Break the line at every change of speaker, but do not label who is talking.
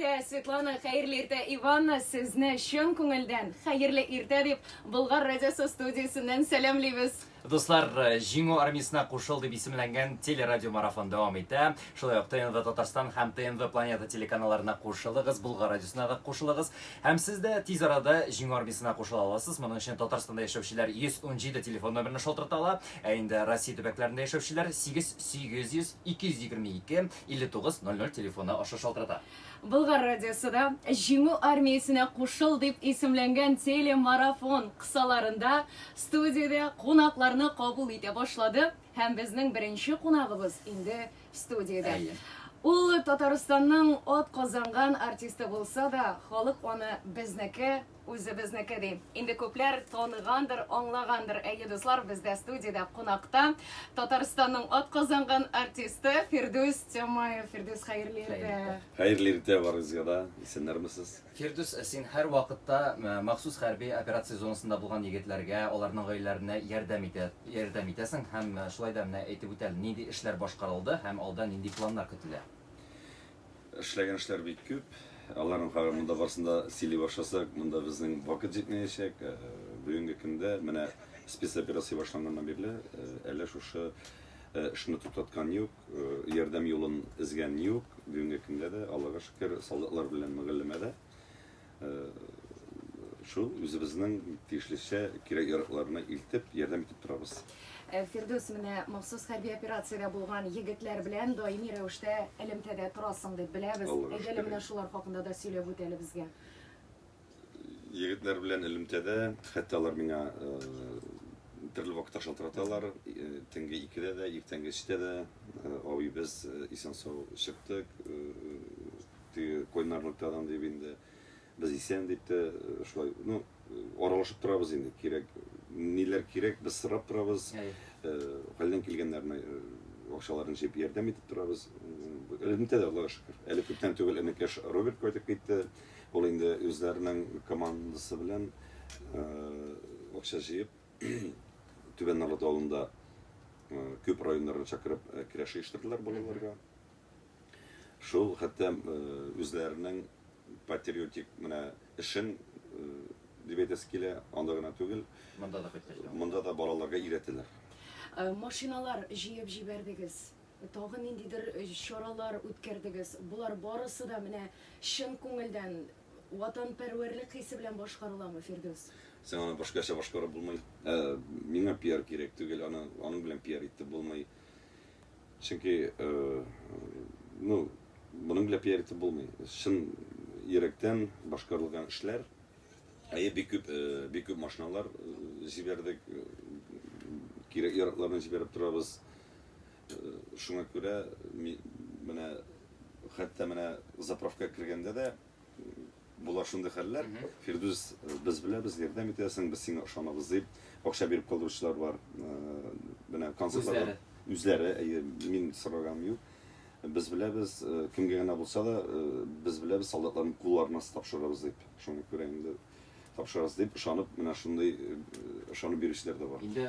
Светлана, хәерле иртә, Иванна, сезне чын күңелдән хәерле иртә дип Болгар радиосы студиясеннән сәламлибез. Дуслар, э,
Җиңү армиясенә кушыл дип исемләнгән телерадиомарафон дәвам итә. Шулай ук ТНВ Татарстан һәм ТНВ Планета телеканалларына кушылыгыз, Булгар радиосына да кушылыгыз. Һәм сез дә тиз арада Җиңү армиясенә кушыла аласыз. Моның өчен Татарстанда яшәүчеләр 117 телефон номерына шалтырата ала, ә инде Россия төбәкләрендә яшәүчеләр 8 800 222 59 00 телефоны аша шалтырата. Болгар радиосы
да Җиңү армиясенә кушыл дип исемләнгән телемарафон кысаларында студиядә кунакларны кабул итә башлады һәм безнең беренче кунагыбыз инде студиядә. Әйе. Ул Татарстанның от казанган артисты булса да, халык аны безнеке Үзебезнеке, ди. Инде күпләр таныгандыр, аңлагандыр. Әйе, дуслар, бездә студиядә кунакта Татарстанның атказанган артисты Фирдүс Тямаев. Фирдүс, хәерле иртә. Хәерле иртә
барыгызга да. Исәннәрмесез? Фирдүс, син
һәр вакытта э, махсус хәрби операция зонасында булган егетләргә, аларның гаиләләренә ярдәм итә, ярдәм итәсең һәм э, шулай да менә әйтеп үтәл, нинди эшләр башкарылды һәм алда нинди планнар көтелә.
Эшләгән эшләр бик күп. Аларның хәбәр монда барсын да сөйли башласак, монда безнең вакыт җитмәячәк. Э, бүгенге көндә менә спецоперация башланганнан бирле э, әле шушы э, эшне туктаткан юк, ярдәм юлын эзгән юк. Бүгенге көндә дә Аллага шөкер, солдатлар белән мөгаллимәдә. Шул үзебезнең тиешлечә кирәк яракларны илтеп, ярдәм итеп торабыз. Фирдүс,
менә махсус хәрби операциядә булган егетләр белән даими рәвештә элемтәдә торасың дип беләбез. Әйдә әле менә шулар хакында да сөйләп үт әле безгә. Егетләр
белән элемтәдә, хәтта алар миңа төрле вакытта шалтыраталар. Төнге икедә дә, иртәнге өчтә дә, абый, без исән-сау чыктык, Теге кайнарлык тагын дип инде без исән дип тә шулай, ну, аралашып торабыз инде, кирәк, ниләр кирәк, без сорап торабыз, хәлдән килгәннәрне акчаларын җыеп ярдәм итеп торабыз. Элемтә дә, Аллага шөкер. Әле күптән түгел энекәш Роберт кайтып китте. Ул инде үзләренең командасы белән акча җыеп, Түбән Норлат авылында күп районнардан чакырып керәш оештырдылар балаларга. Шул хәтта үзләренең патриотик менә эшен дип әйтәсе килә, анда гына түгел. Монда да кайткач. Монда да балаларга өйрәтәләр. Машиналар
җыеп җибәрдегез, тагын ниндидер чаралар үткәрдегез. Болар барысы да менә чын күңелдән, ватанпәрвәрлек хисе белән башкарыламы, Фирдүс? Син аны башкача
башкарып булмый. Миңа пиар кирәк түгел, аны аның белән пиар итеп булмый. Чөнки ну моның белән пиар итеп булмый. Чын йөрәктән башкарылган эшләр. Әйе, бик күп, бик күп машиналар җибәрдек. Кирәк яракларны җибәреп торабыз. Шуңа күрә менә хәтта менә заправка кергәндә дә Була шундый хәлләр. Фирдүс, без беләбез, ярдәм итәсең, без сиңа ышанабыз дип, акча биреп калдыручылар бар. Менә концертларда үзләре, әйе, мин сораганым юк. Без беләбез, кемгә генә булса да, без беләбез, солдатларның кулларына тапшырабыз дип. Шуңа күрә инде тапшырабыз дип ышанып, менә шундый ышанып бирүчеләр дә бар. Инде